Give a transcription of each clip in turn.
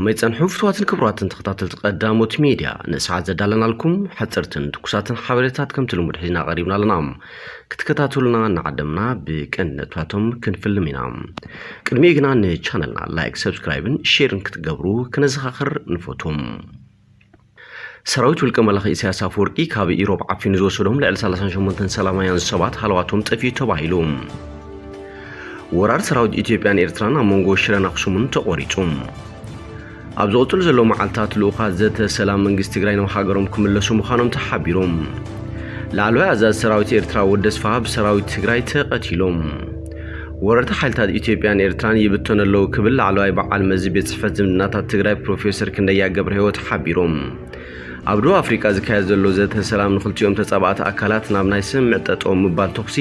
ከመይ ጸንሑ ፍትዋትን ክብራትን ተኸታተልቲ ቀዳሞት ሜድያ ንሰዓት ዘዳለናልኩም ሓጽርትን ትኩሳትን ሓበሬታት ከምቲ ልሙድ ሒዝና ቀሪብና ኣለና ክትከታተሉና እናዓደምና ብቅንነታቶም ክንፍልም ኢና ቅድሚኡ ግና ንቻነልና ላይክ ሰብስክራይብን ሼርን ክትገብሩ ክነዘኻኽር ንፈቱም ሰራዊት ውልቀ መላኺ ኢሳያስ ኣፈወርቂ ካብ ኢሮብ ዓፊኑ ዝወሰዶም ልዕሊ 38 ሰላማውያን ሰባት ሃለዋቶም ጠፊኡ ተባሂሉ። ወራር ሰራዊት ኢትዮጵያን ኤርትራን ኣብ መንጎ ሽረን ኣኽሱምን ተቖሪጹ። ኣብ ዝቕፅሉ ዘለዉ መዓልታት ልኡኻት ዘተ ሰላም መንግስቲ ትግራይ ናብ ሃገሮም ክምለሱ ምዃኖም ተሓቢሩ። ላዕለዋይ ኣዛዚ ሰራዊት ኤርትራ ወዲ ኣስፍሃ ብሰራዊት ትግራይ ተቐቲሎም። ወረርቲ ሓይልታት ኢትዮጵያን ኤርትራን ይብተኑ ኣለዉ ክብል ላዕለዋይ በዓል መዚ ቤት ፅሕፈት ዝምድናታት ትግራይ ፕሮፌሰር ክንደያ ገብረህይወት ሓቢሮም። ኣብ ደቡብ ኣፍሪቃ ዝካየድ ዘሎ ዘተ ሰላም ንክልቲኦም ተፃባእቲ ኣካላት ናብ ናይ ስምምዕ ጠጠው ምባል ተኹሲ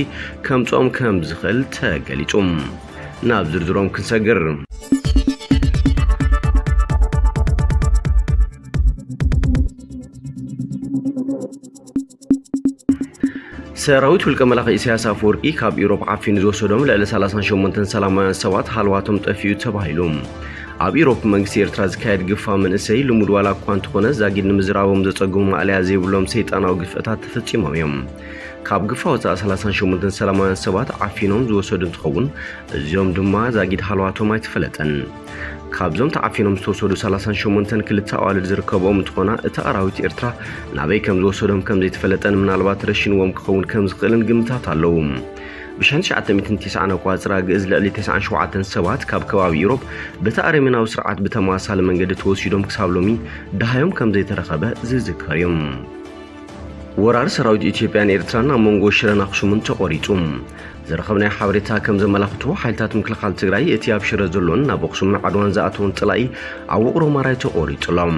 ከምፅኦም ከምዝኽእል ተገሊፁ። ናብ ዝርዝሮም ክንሰግር። ሰራዊት ውልቀ መላኺ ኢሳያስ ኣፈወርቂ ካብ ኢሮብ ዓፊኑ ዝወሰዶም ልዕሊ 38 ሰላማውያን ሰባት ሃልዋቶም ጠፊኡ ተባሂሉ ኣብ ኢሮብ መንግስቲ ኤርትራ ዝካየድ ግፋ መንእሰይ ልሙድ ዋላ እኳ እንተኾነ ዛጊድ ንምዝራቦም ዘጸግሙ ማእለያ ዘይብሎም ሰይጣናዊ ግፍዕታት ተፈጺሞም እዮም። ካብ ግፋ ወፃኢ 38 ሰላማውያን ሰባት ዓፊኖም ዝወሰዱ እንትኸውን እዚኦም ድማ ዛጊድ ሃለዋቶም ኣይተፈለጠን። ካብዞም ተዓፊኖም ዝተወሰዱ 38 ክልተ ኣዋልድ ዝርከብኦም እንትኾና እቲ ኣራዊት ኤርትራ ናበይ ከም ዝወሰዶም ከም ዘይተፈለጠን ምናልባት ረሽንዎም ክኸውን ከም ዝኽእልን ግምታት ኣለዉ። ብ1990 ኣቋፅራ ግእዝ ልዕሊ 97 ሰባት ካብ ከባቢ ኢሮብ በቲ ኣረሜናዊ ስርዓት ብተመሳሳሊ መንገዲ ተወሲዶም ክሳብ ሎሚ ደሃዮም ከም ዘይተረኸበ ዝዝከር እዩ። ወራር ሰራዊት ኢትዮጵያን ኤርትራን ኣብ መንጎ ሽረን ኣኽሱምን ተቖሪጹ። ዝረኸብናዮ ሓበሬታ ከም ዘመላኽቶ ሓይልታት ምክልኻል ትግራይ እቲ ኣብ ሽረ ዘሎን ናብ ኣኽሱምን ዓድዋን ዝኣተወን ጸላኢ ኣብ ውቕሮ ማራይ ተቖሪጹ ኣሎ።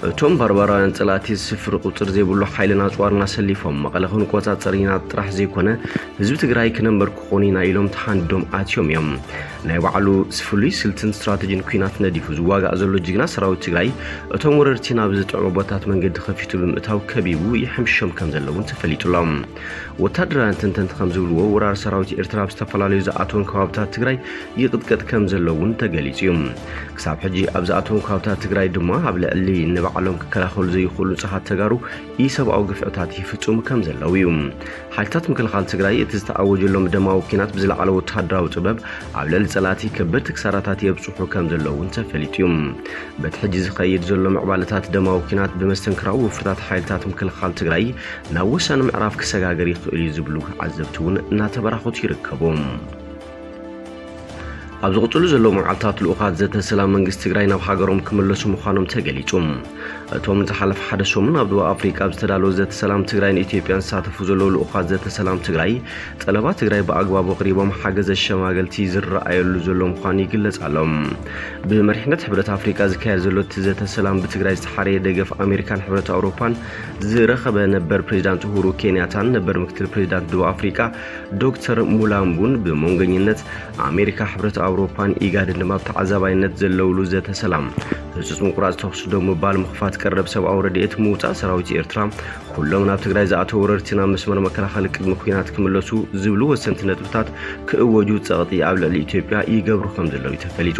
እቶም ባርባራውያን ጸላእቲ ስፍሪ ቁጽሪ ዘይብሉ ሓይልን ኣጽዋርን ኣሰሊፎም መቐለ ክንቆጻጸር ኢና ጥራሕ ዘይኮነ ህዝቢ ትግራይ ክነንበርክኾን ኢና ኢሎም ተሓንዲዶም ኣትዮም እዮም። ናይ ባዕሉ ፍሉይ ስልትን ስትራተጂን ኩናት ነዲፉ ዝዋጋእ ዘሎ ጅግና ሰራዊት ትግራይ እቶም ወረርቲ ናብ ዝጥዕሙ ቦታት መንገዲ ከፊቱ ብምእታው ከቢቡ ይሕምሽሾም ከም ዘሎ እውን ተፈሊጡ ኣሎ። ወታደራውያን ተንተንቲ ከም ዝብልዎ ወራር ሰራዊት ኤርትራ ኣብ ዝተፈላለዩ ዝኣተወን ከባብታት ትግራይ ይቕጥቀጥ ከም ዘሎ እውን ተገሊጹ እዩ። ክሳብ ሕጂ ኣብ ዝኣተወን ከባብታት ትግራይ ድማ ኣብ ልዕሊ ንባዕሎም ክከላኸሉ ዘይኽእሉ ንጹሃት ተጋሩ ኢሰብኣዊ ግፍዕታት ይፍጽሙ ከም ዘለዉ እዩ። ሓይልታት ምክልኻል ትግራይ እቲ ዝተኣወጀሎም ደማዊ ኲናት ብዝለዓለ ወተሃደራዊ ጥበብ ኣብ ልዕሊ ጸላእቲ ከበድቲ ክሳራታት የብጽሑ ከም ዘለዉ እውን ተፈሊጡ እዩ። በቲ ሕጂ ዝኸይድ ዘሎ ምዕባለታት ደማዊ ኲናት ብመስተንክራዊ ወፍርታት ሓይልታት ምክልኻል ትግራይ ናብ ወሳኒ ምዕራፍ ክሰጋገር ይኽእል እዩ ዝብሉ ዓዘብቲ እውን እናተበራኸቱ ይርከቡ። ኣብ ዝቕፅሉ ዘለዉ መዓልታት ልኡኻት ዘተ ሰላም መንግስቲ ትግራይ ናብ ሃገሮም ክምለሱ ምዃኖም ተገሊጹ። እቶም ዝሓለፈ ሓደ ሰሙን ኣብ ደቡብ ኣፍሪቃ ኣብ ዝተዳለወ ዘተ ሰላም ትግራይን ኢትዮጵያን ዝሳተፉ ዘለዉ ልኡኻት ዘተ ሰላም ትግራይ ጠለባት ትግራይ ብኣግባቡ ኣቕሪቦም ሓገዘ ሸማገልቲ ዝረኣየሉ ዘሎ ምዃኑ ይግለጽ ኣሎ። ብመሪሕነት ሕብረት ኣፍሪቃ ዝካየድ ዘሎ እቲ ዘተ ሰላም ብትግራይ ዝተሓረየ ደገፍ ኣሜሪካን ሕብረት ኣውሮፓን ዝረኸበ ነበር ፕሬዚዳንት ኡሁሩ ኬንያታን ነበር ምክትል ፕሬዚዳንት ደቡብ ኣፍሪቃ ዶክተር ሙላምቡን ብመንገኝነት ኣሜሪካ፣ ሕብረት ኣውሮፓን ኢጋድን ድማ ኣብ ተዓዛባይነት ዘለውሉ ዘተ ሰላም ህጹጽ ምቁራጽ ተኹሲ ደው ምባል፣ ምኽፋት ቀረብ ሰብኣዊ ረድኤት፣ ምውጻእ ሰራዊት ኤርትራ፣ ኩሎም ናብ ትግራይ ዝኣተው ወረርቲ ናብ መስመር መከላኸሊ ቅድሚ ኲናት ክምለሱ ዝብሉ ወሰንቲ ነጥብታት ክእወጁ ጸቕጢ ኣብ ልዕሊ ኢትዮጵያ ይገብሩ ከምዘለው'ዩ ተፈሊጡ።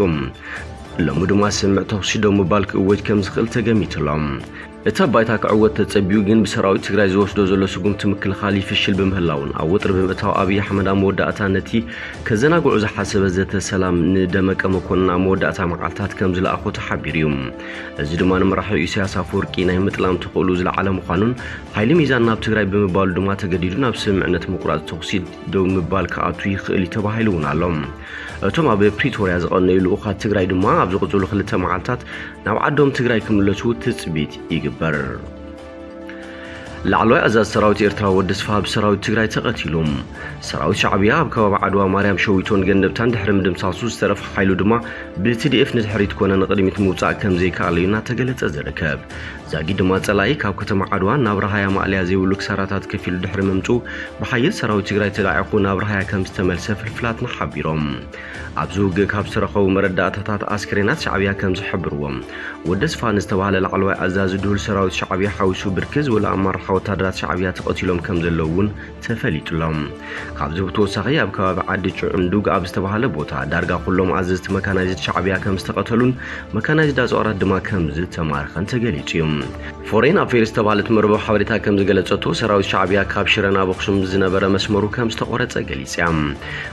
ሎሚ ድማ ስምምዕ ተኹሲ ደው ምባል ክእወጅ ከምዝኽእል ተገሚቱ'ሎ። እቲ ኣብ ባይታ ክዕወት ተጸብዩ ግን ብሰራዊት ትግራይ ዝወስዶ ዘሎ ስጉምቲ ምክልኻል ይፍሽል ብምህላዉን ኣብ ወጥሪ ብምእታው ኣብይ ኣሕመድ ኣብ መወዳእታ ነቲ ከዘናግዑ ዝሓሰበ ዘተ ሰላም ንደመቀ መኮንን ኣብ መወዳእታ መዓልታት ከም ዝለኣኾ ተሓቢሩ እዩ። እዚ ድማ ንመራሒ ኢሳያስ ኣፈወርቂ ናይ ምጥላም ተኽእሉ ዝለዓለ ምዃኑን ሓይሊ ሚዛን ናብ ትግራይ ብምባሉ ድማ ተገዲዱ ናብ ስምምዕነት ምቁራጽ ተኹሲ ደው ምባል ክኣቱ ይኽእል እዩ ተባሂሉ እውን ኣሎ። እቶም ኣብ ፕሪቶርያ ዝቐነዩ ልኡኻት ትግራይ ድማ ኣብ ዝቕፅሉ ክልተ መዓልታት ናብ ዓዶም ትግራይ ክምለሱ ትፅቢት ይግበር። ላዕለዋይ ኣዛዝ ሰራዊት ኤርትራ ወዲ ስፍሃ ብሰራዊት ትግራይ ተቐቲሉ። ሰራዊት ሻዕብያ ኣብ ከባቢ ዓድዋ ማርያም ሸዊቶን ገንደብታን ድሕሪ ምድምሳሱ ዝተረፈ ሓይሉ ድማ ብትዲኤፍ ንድሕሪት ኮነ ንቕድሚት ምውፃእ ከምዘይከኣለዩ እናተገለፀ ዝርከብ ዛጊድ ድማ ፀላኢ ካብ ከተማ ዓድዋ ናብ ራሃያ ማእለያ ዘይብሉ ክሳራታት ከፊሉ ድሕሪ ምምፅኡ ብሓይል ሰራዊት ትግራይ ተላዒኹ ናብ ራሃያ ከምዝተመልሰ ፍልፍላትና ሓቢሮም። ኣብዚ ውግእ ካብ ዝተረኸቡ መረዳእታታት ኣስከሬናት ሻዕብያ ከምዝሕብርዎ ወደስፋ ንዝተባህለ ላዕለዋይ ኣዛዚ ድሁል ሰራዊት ሻዕብያ ሓዊሱ ብርክት ዝበሉ ኣማራሓ ወታደራት ሻዕብያ ተቐቲሎም ከምዘለዉ እውን ተፈሊጡ ኣሎ። ካብዚ ብተወሳኺ ኣብ ከባቢ ዓዲ ጭዑንዱግ ኣብ ዝተባህለ ቦታ ዳርጋ ኩሎም ኣዘዝቲ መካናይዝድ ሻዕብያ ከም ዝተቐተሉን መካናይዝድ ኣጽዋራት ድማ ከም ዝተማረኸን ተገሊጹ እዩ። ፎሬን ኣፌርስ ዝተባህለት መርበብ ሓበሬታ ከም ዝገለጸቶ ሰራዊት ሻዕብያ ካብ ሽረ ናብ ኣኽሱም ዝነበረ መስመሩ ከም ዝተቖረጸ ገሊጻ እያ።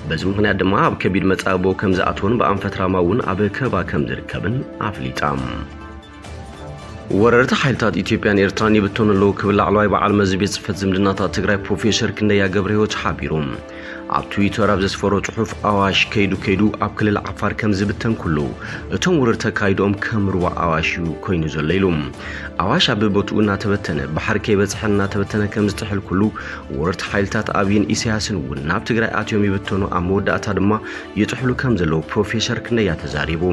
በዚ ምኽንያት ድማ ኣብ ከቢድ መጻብቦ ከም ዝኣተወን ብኣንፈት ራማ እውን ኣብ ከበባ ከም ዝርከብን ኣፍሊጣ። ወረርቲ ሓይልታት ኢትዮጵያን ኤርትራን ይብተኑ ኣለዉ ክብል ላዕለዋይ በዓል መዚ ቤት ጽሕፈት ዝምድናታት ትግራይ ፕሮፌሰር ክንደያ ገብረ ህይወት ሓቢሩ። ኣብ ትዊተር ኣብ ዘስፈሮ ጽሑፍ ኣዋሽ ከይዱ ከይዱ ኣብ ክልል ዓፋር ከም ዝብተን ኩሉ እቶም ውርርቲ ኣካይድኦም ከም ሩባ ኣዋሽ እዩ ኮይኑ ዘሎ ኢሉ። ኣዋሽ ኣብ ቦትኡ እናተበተነ ባሕሪ ከይበጽሐ እናተበተነ ከም ዝጥሕል ኩሉ ወረርቲ ሓይልታት ኣብይን ኢሳያስን እውን ናብ ትግራይ ኣትዮም ይብተኑ ኣብ መወዳእታ ድማ ይጥሕሉ ከም ዘለዉ ፕሮፌሰር ክንደያ ተዛሪቡ።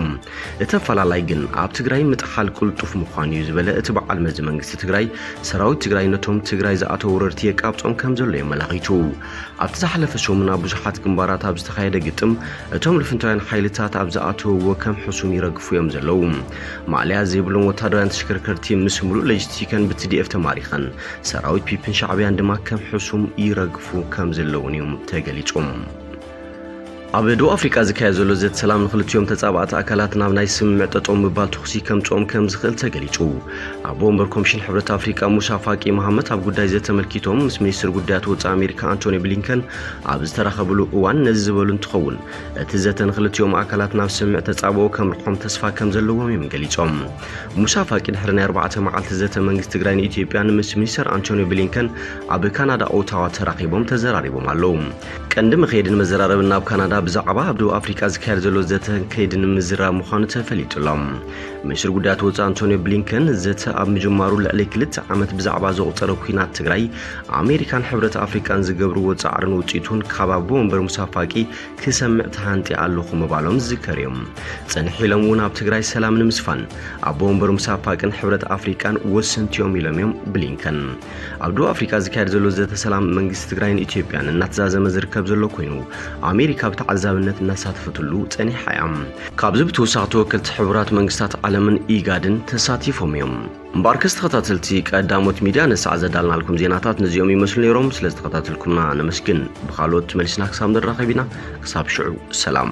እቲ ኣፈላላይ ግን ኣብ ትግራይ ምጥሓል ቅልጡፍ ምዃኑ እዩ ዝበለ እቲ በዓል መዚ መንግስቲ ትግራይ፣ ሰራዊት ትግራይ ነቶም ትግራይ ዝኣተው ወረርቲ የቃብጾም ከምዘሎ እዩ ኣመላኺቱ። ኣብቲ ዝሓለፈ ሰሙን ኣብ ብዙሓት ግንባራት ኣብ ዝተኻየደ ግጥም እቶም ልፍንታውያን ሓይልታት ኣብ ዝኣተውዎ ከም ሕሱም ይረግፉ እዮም ዘለው። ማእለያ ዘይብሎም ወታደራውያን ተሽከርከርቲ ምስ ምሉእ ለጅስቲከን ብትዲኤፍ ተማሪኸን፣ ሰራዊት ፒፒን ሻዕብያን ድማ ከም ሕሱም ይረግፉ ከምዘለውን እዩ ተገሊጹ። ኣብ ደቡብ ኣፍሪቃ ዝካየድ ዘሎ ዘተ ሰላም ንኽልቲኦም ተጻባእቲ ኣካላት ናብ ናይ ስምምዕ ጠጠው ምባል ተኹሲ ከምጽኦም ከም ዝኽእል ተገሊጹ። ኣቦ ወንበር ኮሚሽን ሕብረት ኣፍሪቃ ሙሳ ፋቂ መሃመት ኣብ ጉዳይ ዘተ ኣመልኪቶም ምስ ሚኒስትር ጉዳያት ወጻኢ ኣሜሪካ ኣንቶኒ ብሊንከን ኣብ ዝተራኸብሉ እዋን ነዚ ዝበሉ እንትኸውን እቲ ዘተ ንኽልቲኦም ኣካላት ናብ ስምምዕ ተጻብኦ ከምርሖም ተስፋ ከም ዘለዎም እዮም ገሊጾም። ሙሳ ፋቂ ድሕሪ ናይ ኣርባዕተ መዓልቲ ዘተ መንግስቲ ትግራይ ንኢትዮጵያ ንምስ ሚኒስተር ኣንቶኒ ብሊንከን ኣብ ካናዳ ኦታዋ ተራኺቦም ተዘራሪቦም ኣለው። ቀንዲ መኸየድን መዘራረብን ናብ ካናዳ ብዛዕባ ኣብ ደቡብ ኣፍሪቃ ዝካየድ ዘሎ ዘተን ከይድን ምዝራብ ምዃኑ ተፈሊጡ ኣሎ። ምኒስትር ጉዳያት ወፃኢ ኣንቶንዮ ብሊንከን ዘተ ኣብ ምጅማሩ ልዕሊ ክልተ ዓመት ብዛዕባ ዘቑፀረ ኩናት ትግራይ ኣሜሪካን ሕብረት ኣፍሪቃን ዝገብርዎ ፃዕርን ውፅኢቱን ካብ ኣቦ ወንበር ሙሳ ፋቂ ክሰምዕ ተሃንጢ ኣለኹ ምባሎም ዝዝከር እዩ። ፅንሕ ኢሎም እውን ኣብ ትግራይ ሰላም ንምስፋን ኣቦ ወንበር ሙሳ ፋቅን ሕብረት ኣፍሪቃን ወሰንቲ እዮም ኢሎም እዮም ብሊንከን። ኣብ ደቡብ ኣፍሪካ ዝካየድ ዘሎ ዘተ ሰላም መንግስቲ ትግራይን ኢትዮጵያን እናተዛዘመ ዝርከብ ዘሎ ኮይኑ ኣሜሪካ ብተዓዛብነት እናሳተፈትሉ ፀኒሓ እያ። ካብዚ ብተወሳኺ ተወከልቲ ሕቡራት መንግስታት ዓለምን ኢጋድን ተሳቲፎም እዮም። እምበኣርከስ ተኸታተልቲ ቀዳሞት ሚድያ ነሳዕ ዘዳልናልኩም ዜናታት ነዚኦም ይመስሉ ነይሮም። ስለዝተኸታተልኩምና ነመስግን። ብካልኦት መሊስና ክሳብ ንራኸብ ኢና። ክሳብ ሽዑ ሰላም።